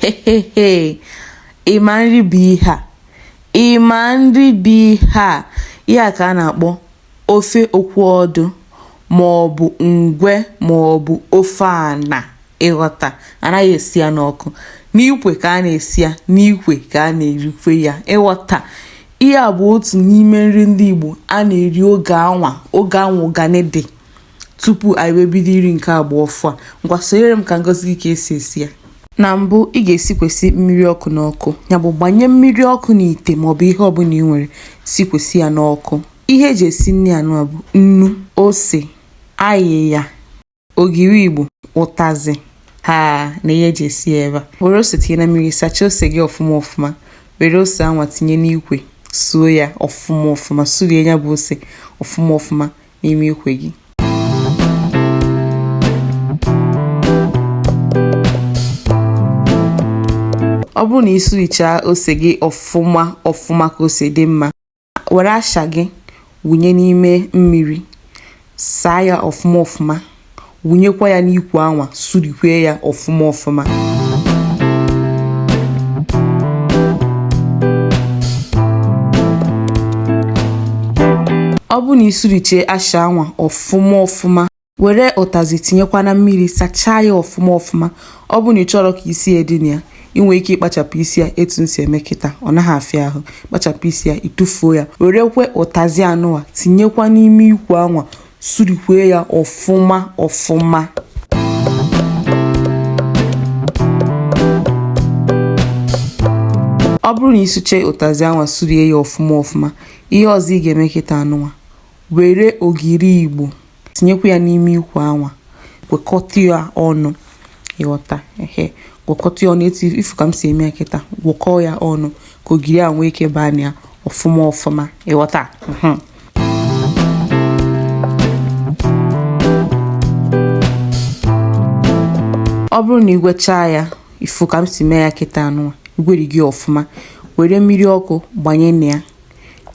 hehehe ị ma nri bụ ihe a ị ma nri bụ ihe a ya ka a na-akpọ ofe okwu ọdụ ma ọ bụ ngwe ma ọ bụ ofe ana ị ghọta anaghị esi ya n'ọkụ n'ikwe ka a na-esi ya n'ikwe ka a na-erikwe ya ị ghọta ihe a bụ otu n'ime nri ndị Igbo a na-eri oge anwa oge anwa ụgani dị Tupu anyị wee bido iri nke agba ọfụ a, ngwa sonyere m ka m gosi gị ka e si esi ya. Na mbụ, ị ga-esikwesị mmiri ọkụ n'ọkụ, ya bụ gbanye mmiri ọkụ n'ite maọbụ ihe ọbụla ị nwere sikwesị ya n'ọkụ. Ihe e ji esi nri anụwa bụ nnu, ose, ayịya, ogiri Igbo, ụtazị ha na ihe e ji esi ya ebe a. Were ose tinye na mmiri, sachaa ose gị ọfụma ọfụma, were ose anwa tinye n'ikwe suo ya ọfụma ọfụma, surie ya bụ ose ọfụma ọfụma. n'ime ikwe gị ọ bụrụ na ị sụrichaa ose gị ọfụma ọfụma ka ose dị mma were asha gị wụnye n'ime mmiri saa ya ọfụma ọfụma wụnyekwa ya n'ikwe anwa surikwee ya ọfụma ọfụma ọ bụrụ na i surichee asha anwa ọfụma ọfụma were ụtazị tinyekwa na mmiri sachaa ya ọfụma ọfụma ọ bụrụ na ị chọrọ ka isi ya dị na ya ị nwere ike ịkpachapụ isi ya etu m si eme kịta ọ naghị afịa ahụ kpachapụ isi ya ị tụfuo ya werekwe ụtazị anụwa tinyekwa n'ime ikwe anwa surikwee ya ọfụma ọfụma ọ bụrụ na ị sụche ụtazị anwa surie ya ọfụma ọfụma ihe ọzọ ị ga-eme kịta anụwa were ogiri igbo tinyekwa ya n'ime ikwe anwa gwekọta ya ọnụ ị ghọta ehe gwakọta ya ọnụ etu ị fụ ka m si eme ya kịta gwọkọọ ya ọnụ ka ogiri a nwee ike baa na ya ọfụma ọfụma ị ghọta ọ bụrụ na i gwechaa ya ị fụ ka m si mee ya kịta anụwa i gwerigo ọfụma were mmiri ọkụ gbanye na ya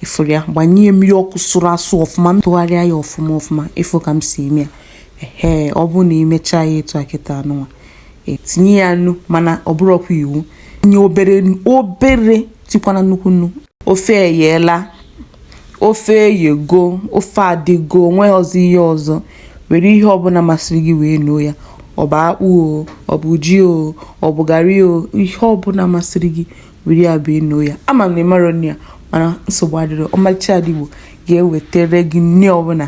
ị fụrụ ya gbanye mmiri ọkụ sụrụ asụ ọfụma tụgharịa ya ọfụma ọfụma ị fụ ka m si eme ya ehe ọ bụrụ na i mechaa ya etu a kịta anụwa i tinye ya nnu mana ọ bụrọkwa iwu tinye obere obere etikwana nnukwu nnu ofe eyela ofe eyego ofe adịgo o nwerọzị ihe ọzọ were ihe ọbụla masịrị gị wee noo ya ọ bụ akpụ o ọ bụ ji o ọ bụ garị o ihe ọbụla masịrị gị were ya bee noo ya ama m na ị marọ nri a mana nsogbu adịrọ ọmalịcha ada igbo ga-ewetere gị nri ọbụla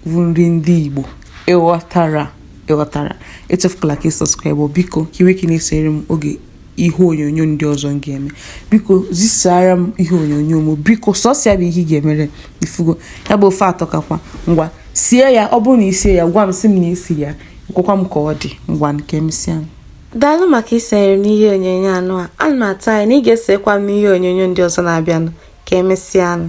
bụ nri ndị igbo ị ghọtara ị ghọtara echefukwala ka ị subscribe biko ka i nwee ike na-esonyere m oge ihe onyonyo ndị ọzọ m ga-eme biko zisara m ihe onyonyo m biko sọsọ ya bụ ihe ị ga-emere ị fụgo ya bụ ofe atọkakwa ngwa sie ya ọ bụrụ na i sie ya gwa m sị m na i sie ya gwakwa m ka ọ dị ngwanụ ka emesịanụ daalụ maka isonyere m n'ihe onyonyo anụa ana m atụ anya na ị ga-esokwa m n'ihe onyonyo ndị ọzọ na-abịanụ ka emesịanụ